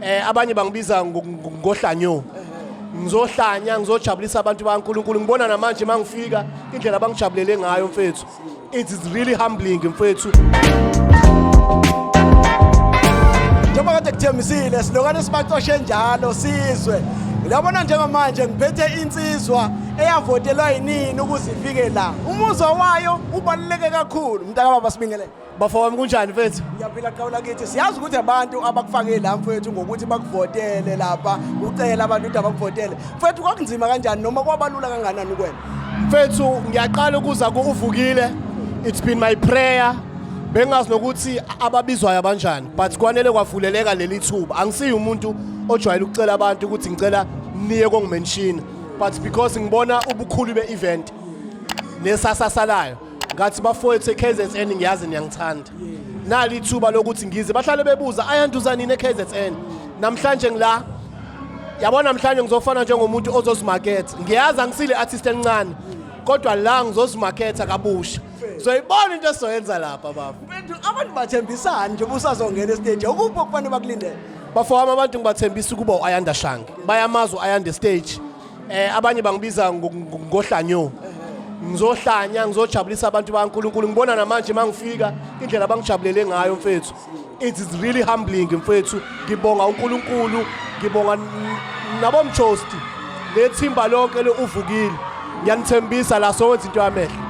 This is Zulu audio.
Eh, abanye bangibiza ngo- ngo- ngohlanyo ngizohlanya ngizojabulisa abantu bankulunkulu ngibona namanje uma ngifika indlela abangijabulele ngayo mfethu It is really humbling mfethu. Njengoba kade kuthembisile silokane sibacoshe njalo sizwe. Uyabona njengamanje ngiphethe insizwa eyavotelwa yinini ukuze ifike la. Umuzwa wayo ubaluleke kakhulu mntakababa sibingelele. bafo wami kunjani mfethu ngiyaphila qawula kithi siyazi ukuthi abantu abakufake la mfethu ngokuthi bakuvotele lapha ucela abantu ukuthi abakuvotele mfethu kwakunzima kanjani noma kwabalula kanganani kwena mfethu ngiyaqala ukuza ku-uvukile it's been my prayer bengazi nokuthi ababizwayo abanjani but kwanele kwavuleleka leli thuba angisiyi umuntu ojwayele ukucela abantu ukuthi ngicela niye kongimenshini but because ngibona ubukhulu be-event nesasasalayo ngathi bafowethu eKZN ngiyazi niyangithanda nali ithuba lokuthi ngize bahlale bebuza ayanduza nini eKZN namhlanje ngila yabona namhlanje ngizofana njengomuntu ozozimaketha ngiyazi angisile artist elincane kodwa la ngizozimaketha kabusha soyibona into esizoyenza lapha baba Mfethu abantu bathembisani nje busazongena estage ukuphi okufanele bakulindele bafowami abantu ngibathembisa ukuba u-ayanda shange bayamazi u-ayanda stage eh abanye bangibiza ngo- ngo- ngohlanyo ngizohlanya ngizojabulisa abantu bakaNkuluNkulu ngibona namanje mangifika indlela abangijabulele ngayo mfethu it is really humbling mfethu ngibonga uNkuluNkulu ngibonga n- nabomjosti lethimba lonke leuvukile ngiyanithembisa la sowenza into yamehlo